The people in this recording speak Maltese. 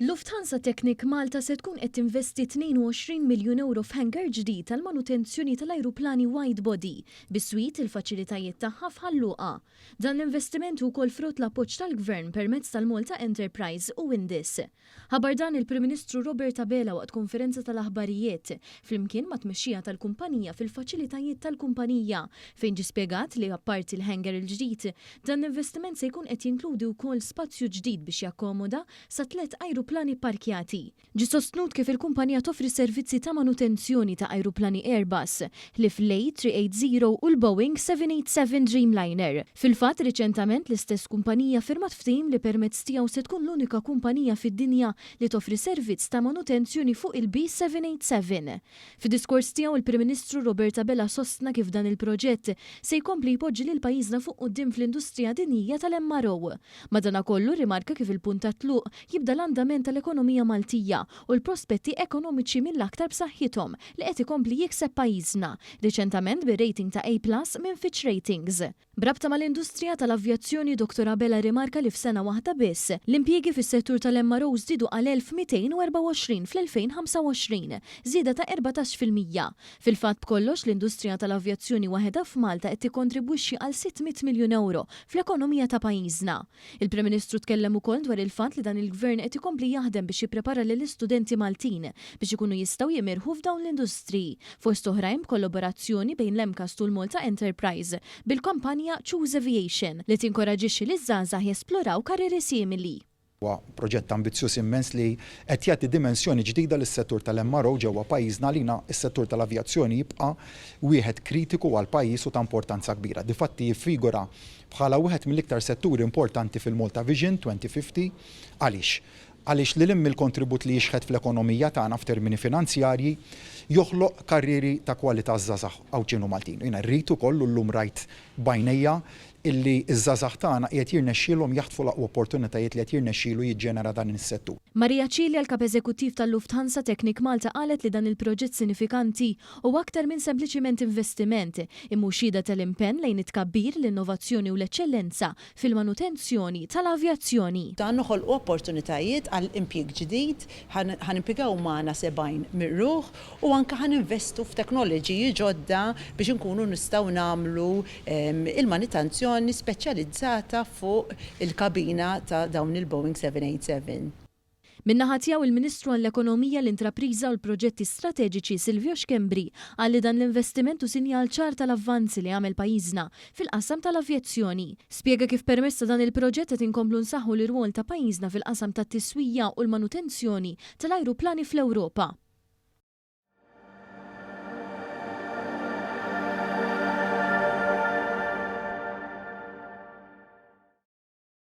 Lufthansa Technik Malta se tkun qed tinvesti 22 miljun ewro f'hangar ġdid għall-manutenzjoni tal-ajruplani widebody, biswit il-faċilitajiet tagħha f'Ħal Luqa. Dan l-investiment hu wkoll frott l-appoġġ tal-Gvern permezz tal-Malta Enterprise u Windis. Ħabar dan il-Prim Ministru Robert Abela waqt konferenza tal-aħbarijiet flimkien mat-tmexxija tal-kumpanija fil-faċilitajiet tal-kumpanija fejn ġie spjegat li apparti l-hangar il-ġdid Dan l-investiment se jkun qed jinkludi wkoll spazju ġdid biex jakkomoda sa tliet ajruplani pparkjati. Ġie sostnut kif il-kumpanija toffri s-servizzi ta' manutenzjoni ta' ajruplani Airbus, ħlief l-A380 u l-Boeing 787 Dreamliner. Fil-fatt, riċentament l-istess kumpanija ffirmat ftehim li permezz tiegħu se tkun l-unika kumpanija fid-dinja li toffri servizz ta' manutenzjoni fuq il-B787. Fid-diskors tiegħu l-Prim Ministru Robert Abela sostna kif dan il-proġett se jkompli jpoġġi lil pajjiżna fuq quddiem fl-industrija dinjija tal-MRO. Madanakollu rrimarka kif il-punt tat-tluq jibda l-andament tal-ekonomija Maltija u l-prospetti ekonomiċi mill-aktar b'saħħithom li qed ikompli jikseb pajjiżna, riċentament bir-rating ta' A+ minn Fitch Ratings. B'rabta mal-industrija tal-avjazzjoni Dottor Abela rrimarka li f'sena waħda biss, l-impjiegi fis-settur tal-MRO żdiedu għal 1,224 fl-2025, żieda ta' erbatax fil-mija. Fil-fatt b'kollox l-industrija tal-avjazzjoni waħedha f'Malta qed tikkontribwixxi għal 600 miljun ewro fl-ekonomija ta' pajjiżna. Il-Prim Ministru tkellem ukoll dwar il-fatt li dan il-Gvern qed ikompli jaħdem biex jipprepara lill-istudenti Maltin biex ikunu jistgħu jimirħu f'dawn l-industriji, fost oħrajn b'kollaborazzjoni bejn l-MCAST u l-Malta Enterprise bil-kompanja Choose Aviation li tinkoraġixxi liż-żgħażagħ jesploraw karrieri simili. Huwa proġett ambizzjuż immens li qed jagħti dimensjoni ġdida lis-settur tal-MRO ġewwa pajjiżna. Għalina, is-settur tal-avjazzjoni jibqa' wieħed kritiku għall-pajjiż u ta' importanza kbira. Difatti jiffigura bħala wieħed mill-iktar setturi importanti fil-Malta Vision 2050. Għaliex? Għaliex lil hinn mill-kontribut li jixħet fl-ekonomija tagħna f'termini finanzjarji, joħloq karrieri ta' kwalità għaż-żgħażagħ Għawdxin u Maltin. U jiena rrid ukoll u llum rajt b'għajnejja illi ż-żgħażagħ tagħna qiegħed jirnexxielhom jaħtfu l-aqwa opportunitajiet li qed jirnexxielu jiġġenera dan is-settur. Maria Cilia, l-Kap Eżekuttiv tal-Lufthansa Technik Malta qalet li dan il-proġett sinifikanti Huwa aktar minn sempliċiment investiment, imma hu xhieda tal-impenn lejn it-tkabbir, l-innovazzjoni u l-eċċellenza fil-manutenzjoni tal-avjazzjoni. Dan noħolqu opportunitajiet għal impjieg ġdid, ħa nimpjegaw magħna 70 ruħ u anke ħa ninvestu f'teknoloġiji ġodda biex inkunu nistgħu nagħmlu l-manutenzjoni speċjalizzata fuq il-kabina ta' dawn il-Boeing 787. Min-naħa tiegħu il-Ministru għall-Ekonomija, l-Intrapriża u l-Proġetti Strateġiċi Silvio Schembri qal li dan l-investiment hu sinjal ċar tal-avvanzi li għamel pajjiżna fil-qasam tal-avjazzjoni. Spjega kif permezz ta' dan il-proġett qed inkomplu nsaħħu l-irwol ta' pajjiżna fil-qasam tat-tiswija u l-manutenzjoni tal-ajruplani fl-Ewropa.